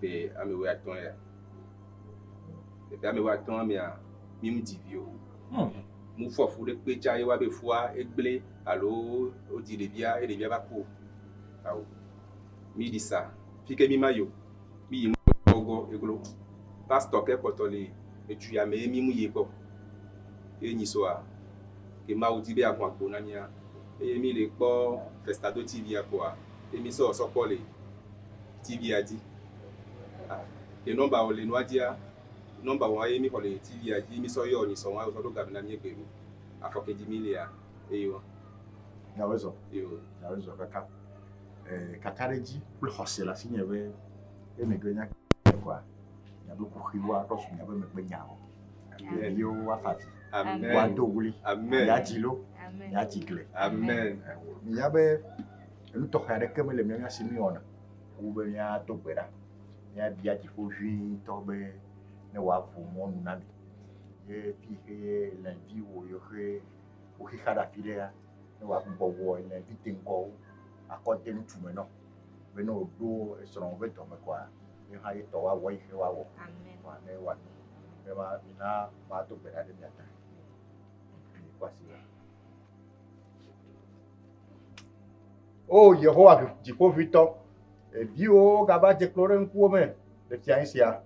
ƒe ame wuiatɔ̃lia, le ƒe ame wuiatɔ̃a mea, mí ŋdi vi o. Mu fɔ fu ɖe kpe tsa ye wa be fua egblẽ alo wodzi ɖevia ye ɖevia va ku o. Ao, mí ɖi sa, fi ke mí ma yi o, mí yi mɔgɔ eglo. Pastɔ ke kpɔtɔ li edu ya me ye mí mu yi kpɔ. Ye nyi soa, ke Mawu di be yeaho agbo na mía eye mí le kpɔ Festa Do TV-a kpoa, ye mí sɔ sɔ kpɔ li. TV-a dzi. A, ye nɔmba wò le nua dzia, nɔmba wò ye mi xɔ le TV-a dzi, mi sɔ yɔ nyi sɔ wa, sɔ ɖo gavi na mi egbe mi. Afɔ ke dzi mi lia, eyi wa. Nya wezɔ. Yo. Nya wezɔ kaka. Eh, kaka ɖe dzi kple xɔse la si nye be, ye mi gbe nya ke kɔa, nya be kuxi wa ɖɔ su nya be megbe nya o. Ye mi yo wa favi. Amen. Wa do wuli. Amen. Ya dzi lo. Amen. Ya dzi gle. Amen. Eh, mi ya be, Enu tɔxɛ aɖeke mele mía mía si míewɔna wu be míado gbe ɖa, míabia dziƒo ʋĩtɔ be ne wòaʋu mɔ nu na mí. Ye fi yi ke alẽviwo yiwo ke woxi xa ɖe afi ɖea, ne wòagbugbɔ wɔ alẽvi deŋgɔwo akɔ de ŋutsu me na wo be ne wòɖo esrɔ̃wò ƒe dɔme kɔa, ye hã ye tɔ woawɔ eyi ke woawɔ kɔa, ne wòanyo. Ye ma mina mado gbe ɖa ɖe mia ta. Oo Yehowa Dziƒoʋĩtɔ, viwòwo gava dze klo ɖe ŋkuwò me le fiaɣi sia.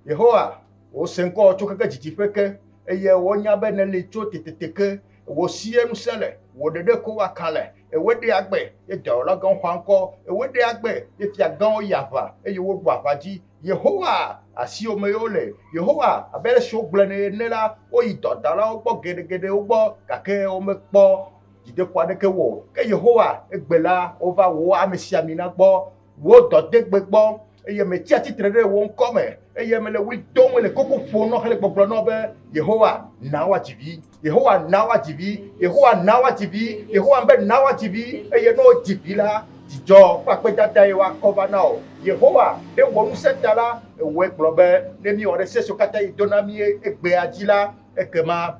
Yehowa, wò se ŋkɔ tso keke dzidziƒe ke, eye wonya be nèli tso tetete ke. Wò sie ŋusẽ le, wò ɖeɖe ko wɔ kalẽ. Èwɔe ɖe agbe, eye dɔyɔla gãwo xɔa ŋkɔ. Èwɔe ɖe agbe, eye fia gãwo yia aʋa, eye woɖua aʋa dzi. Yehowa, asiwò mee wole. Yehowa, abe ale si wogblɔe nɛ ene la, woyi dɔdalawo gbɔ geɖegeɖewo gbɔ, gake womekpɔ dzideƒo aɖeke wɔ o. Ke Yehowa egbe la, wova wò amesiamina gbɔ, wò dɔdegbe gbɔ, eye metsia tsitre ɖe wò ŋkɔ me, eye mele ɣli dom, mele koko ƒom na wò hele gbɔgblɔm na wò be, Yehowa, na woadzi vi. Yehowa, na woadzi vi. Yehowa, na woadzi vi. Yehowa be, Na woadzi vi. Eye ne wodzi vi la, dzidzɔ kple akpedadae woakɔ va na wò. Yehowa, ɖe wò ŋusẽ ta la, èwɔe gblɔ be, ne míewɔ ɖe se siwo katã yi do na mí egbea dzi la, ekema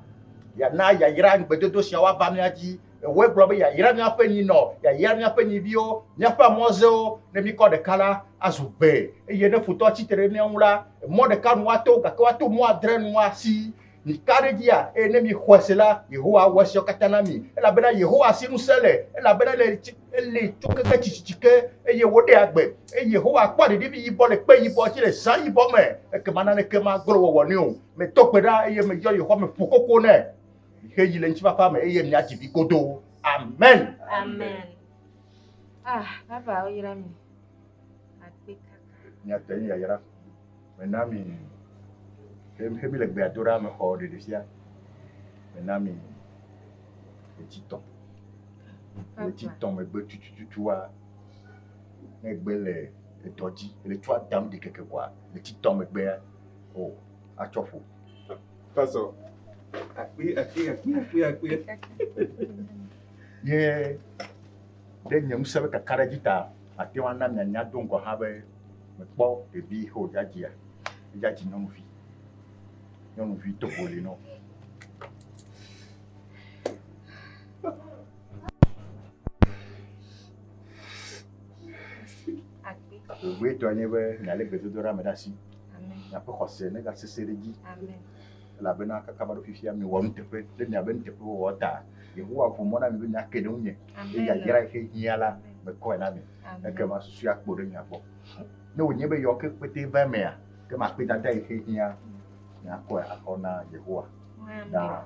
Yàna yayra ŋugbedodo sia woava mía dzi. Èwɔe gblɔ be yayra míaƒe nyinɔ, yayra míaƒe nyiviwo, míaƒe amɔzewo, ne míkɔ ɖeka la, azu gbe, eye ne futɔ tsi tre ɖe mía ŋu la, mɔ ɖeka nu woato, gake woato mɔ adre nu asi. Mika ɖe edzia, eye ne mixɔe se la, Yehowa awɔ esiawo katã na mi. Elabena Yehowa si ŋusẽ le, elabena ele eli tso keke tsitsitsi ke, eye wòɖea agbe. Eye Yehowa kpɔa ɖeɖevi yibɔ le kpe yibɔ dzi, le zã yibɔ me, ekema naneke magblẽ wòawɔ nɛ o. Metɔ gbe ɖa eye meyɔ Yehowa me ƒo koko nɛ. Xe yi le ŋutifafa me eye mia dzivi godoo. Amen. Amen. Ah, baba oyra mi. Akpe kaka. Mia tɛ ya yra. Mena mi. Xe mi le gbe adora me xɔ ɖeɖe sia. Mena mi. Etsi tɔ. Etsi tɔ me gbe tutututu wa. Ne gbe le edɔ dzi, le tsua dam de keke kwa. Etsi tɔ me gbe ya. o atsɔ ƒo. Tazɔ akpi akpi akpi akpi akpi. Ye ɖe nye ŋusẽ ƒe kakaɖedzi ta mate ŋu ana mianya do ŋgɔ hã be mekpɔ ɖevi xo dzadzia dzadzi nyɔnuvi nyɔnuvi togo li nɔ. Akpi. Gbogbo etɔ nye be mialé gbedodoɖa me ɖe asi. Miaƒe xɔse negasesẽ ɖe edzi, elabena kaka va ɖo fifia miewɔ nuteƒe ɖe miaƒe nuteƒewɔwɔ ta. Yehowa ʋu mɔ na mi be miake ɖe ŋunye, eye yayra yi xe hiã la, mekɔe na mi. Ekema susue akpo ɖe mia gbɔ. Ne wònye be yeɔ ke kpetɛ va emea, ke makpedada yi xe hiã miakɔe akɔ na Yehowa na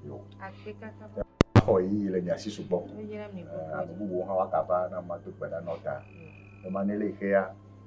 yewo. Xɔ ɣeyiɣi le mia si sugbɔ. Ame bubuwo hã woagava ne mado gbe ɖa na wo ta. Ema ne le yi xea,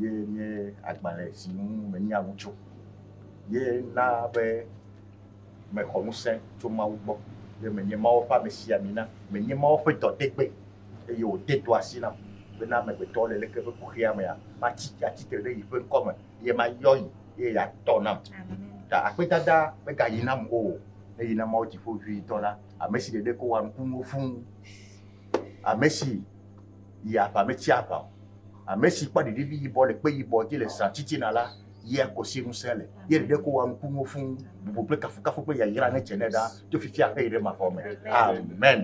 ye nye agbalẽ si ŋu menya nu tso ye na be mexɔ ŋusẽ tso Mawu gbɔ ye menye Mawu ƒe amesiame na menye Mawu ƒe dɔdegbe eye wòde dɔ asi nam bena amegbetɔ le leke ƒe kuxia mea matsi atsi tre ɖe yeƒe ŋkɔ me ye mayɔ yi ye yeatɔ nam ta akpedada megayi nam o eyi na Mawu dziƒo vi dɔ la ame si ɖeɖe ko wa nukunuwo fũu ame si yi aʋa metsi aʋa o. Ame si kpɔ ɖeɖevi yibɔ le kpe yibɔ dzi le zã titina la yia kosi ŋusẽ le, ye ɖeɖe ko wɔa nukunuwo fũ. Bubu kple kafukafu kple yayra netse nɛ ɖa tso fifia xe yi ɖe mavɔ me. Amen.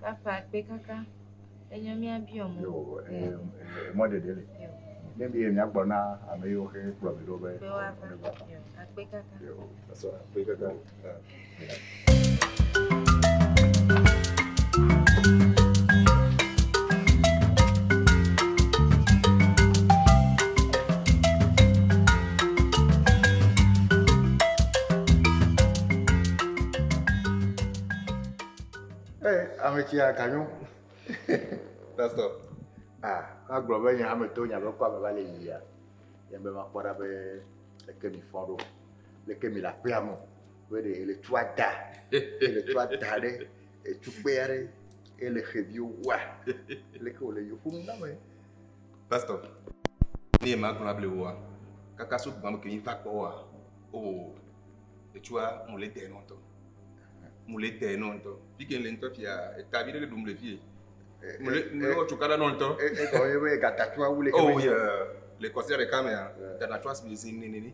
Papa kpekaka enye mía biɔ mo. Yo, eh, eh, mɔɖeɖe le. Yo. Ne mi miagblɔ na ame yiwo xe kplɔ mi ɖo be. Be woava. Yo, akpekaka. Yo, pastor, akpekaka. ameti aganyo pastor ah agblɔ be nye hame to nya be kpɔ ameva le yia yɛn be makpɔ ɖa be eke mi fɔ ɖo leke mi la kpea mo be ɖe ele tu ada ele tu ada ɖe etu kpe aɖe ele xeviwo wa leke wòle yewo ƒom na me. pastɔ ne ma gblɔ able woa kaka so gbɔn ke mi va kpɔ wa o oh, etsua mo le dɛ nɔtɔ mo le dɛ nɔtɔ fi ke le ŋtɔ fia eta bi ɖe le ɖum le fie mo le mo le wɔ tsoka ɖe nɔtɔ e e gɔ ye be gata tua wule ke oh yeah le kɔsia ɖeka mea gata tua si le zin nenene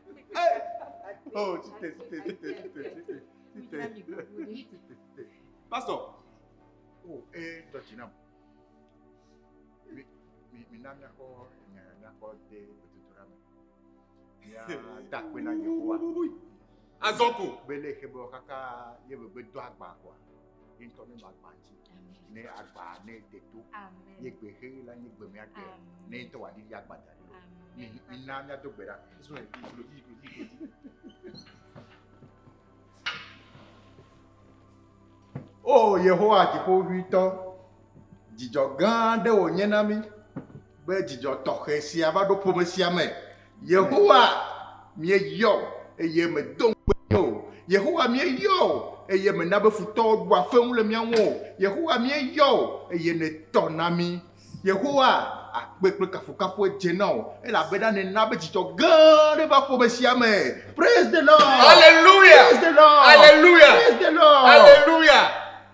Oh, chite, chite, chite, chite, chite, chite. Pastor. Oh, eh, Georgina. Mi, mi, mi na mi akɔ nya mi akɔ de gbedodoɖa me. Ya da akpe na Yehowa. Azɔ ko. Bele ebe wo katã ye be gbedo agba koa. ne ŋutɔ ne magba ŋuti ne agba ne deto ye gbe xe la nye gbe mea gbe ne ŋutɔ wa ɖi agba da ɖi o na mia do gbe ɖa so ne klo dzi klo dzi klo dzi. o yehowa dziƒoʋitɔ Dzidzɔ gã aɖe wònye na mí be dzidzɔ tɔxɛ sia va ɖo ƒome sia me. Yehowa, míeyɔ wò eye mèdo ŋukpe mí o. Yehowa, míeyɔ wò eye mèna be futɔwo ɖua feŋu le mía ŋu o. Yehowa, míeyɔ wò eye nètɔ na mí. Yehowa, akpe kple kafukafu edze na wò elabena nèna be dzidzɔ gã aɖe va ƒome sia me. Praise the Lord! Hallelujah! Praise the Lord! Hallelujah! Praise the Lord! Hallelujah!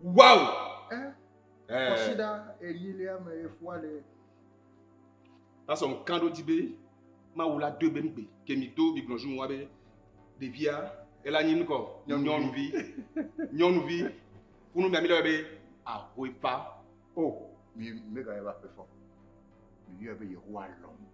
Wow! Eh, eh. Kɔsiɖa enyilia me efua le. Tasɔ ŋkan ɖo di be Mawu la doe be ŋgbe ke mi do mi gblɔ zu wa be ɖevia ela nyi nukɔ nyɔnuvi nyɔnuvi kunu mia mi lɔ be ahoe fa. O mi mega eva pe fɔ. Mi yɔ be Yehowa lɔm.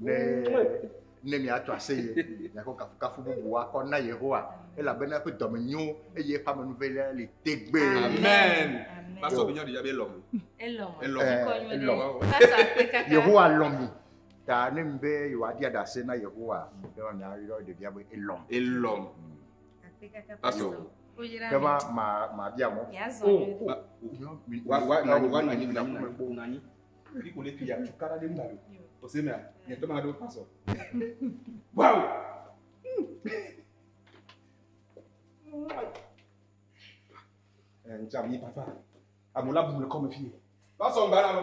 ne ne miato ase ye miakɔ kafukafu bubu akɔ na yehowa elabena eƒe dɔme nyo eye eƒe amenuve la li tegbe amen pasɔ bi nyɔ ɖiya bi elɔm elɔm elɔm yehowa lɔm mi ta ne mi be yehowa dia ɖase na yehowa ne ma miayɔ ɖevia be elɔm elɔm pasɔ kɛba ma ma bia mɔ o wa wa wa nanyi nanyi nanyi Ele kò lè fi ya tuka ɖe mu alo. O se mea, nye tɔ ma ɖo pasɔ. Wow! Ntsa mi papa. Amu la bu le kɔme fi. Pasɔ ŋgba la lo.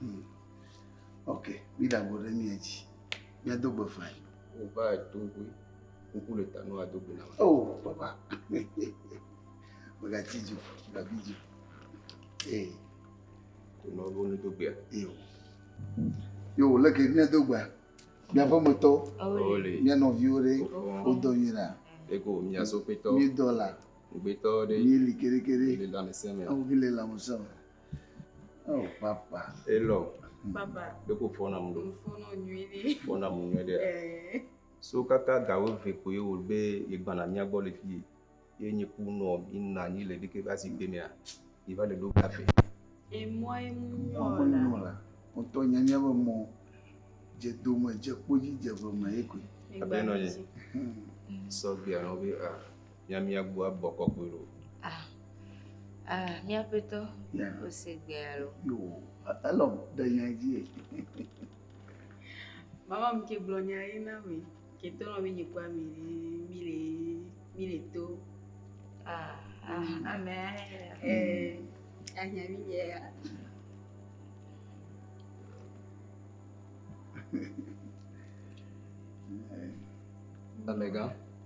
Hmm. Ok, mi da go ɖe mia dzi. Mia do gbe fain. O va do gbe. Kuku le ta no ado gbe na. O oh, papa. Mega ti ju, mega bi ju. Ee. Ko ma bo ne do gbe. Yo. Yo, leke mia do gbe. Mia fɔ me tɔ. Ole. Mia no viwo ɖe. O do mi la. Eko mia so pe tɔ. Mi do la. Gbe tɔ ɖe. Mi li kere kere. Mi le la me seme. Awu ki le la me seme. Oh, papa. Hello. Papa. Bɛ ko fɔna mu do. Fɔna nyuie de. Fɔna mu nyuie de. Ɛɛ. So kaka gawo ve ko ye wòle be yegbana mía gbɔ le fii ye nye ku nɔ yina anyi le ɖeke va si gbe mea yi va le ɖo kafe. Emɔ ye mu nyɔ la. Emɔ nyɔ la. Ŋutɔ nya mía be mɔ dze dome dze kpodzi dze ve me ye koe. Abe nɔ ye. Sɔgbia nɔ be a. mia mia gbu abɔ kɔkɔe ɖo. Ah, ah, mia petɔ, o se gbe alo. Yo, alo de nya dzi. Mama mi ke gblɔ nya ye na mi, ke to nɔ mi nyikwa mi mi le mi le to. Ah, ah, ame eh, anya mi ye ya. Amega.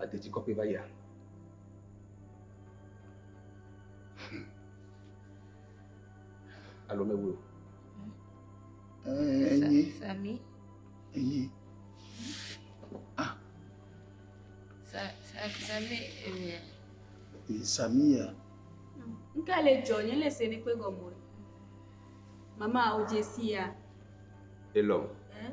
ade tsi kɔkɔe va yia. Hmm. Alo me wo. Enyi. Sami. Enyi. Ah. Sa sa sami enyi. Sami ya. Nka le jɔ nye le sene kpe gɔmɔ. Mama o jesia. Elom. Eh?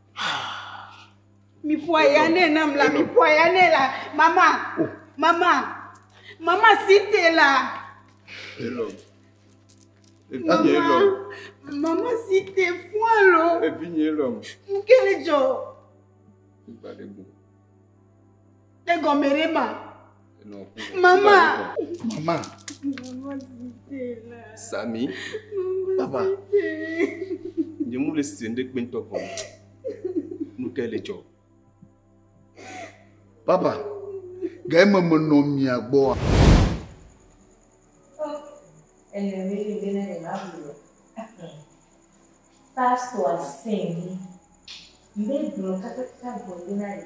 Mi ƒoa ya nɛ nam la, mi ƒoa ya nɛ la. Mama, oh. mama, mama si te la. Hello. Evinye lɔ. Mama si te fún alo. Evinye lɔ. Nkele jɔ. Ìgbàlejò. Egɔme ɖe ma. Mama. Mama. Sami. Papa. Nye mu le si ne kpe ŋutɔ kɔ. Nu ke le dzɔ. Papa. Ga eme menɔ mia gbɔa. Pastor sing. Mbɛ gblɔ kakaka gbɔ yina yi.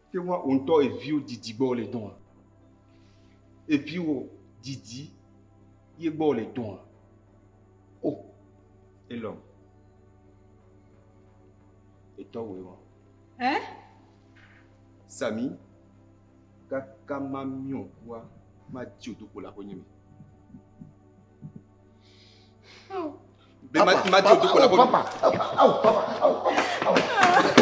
Te ŋu wò ŋutɔ eviwo didi gbɔ wole dɔa? Eviwo didi ye gbɔ wole dɔa? O, oh, Elon. Etɔ wòe wɔ. Ɛ? Sami, kaka mamiɔ kua, mati wò dokpo le aƒenye me. Oh. Be mati wò dokpo le aƒenye me. Papa, papa, papa, papa, papa, papa.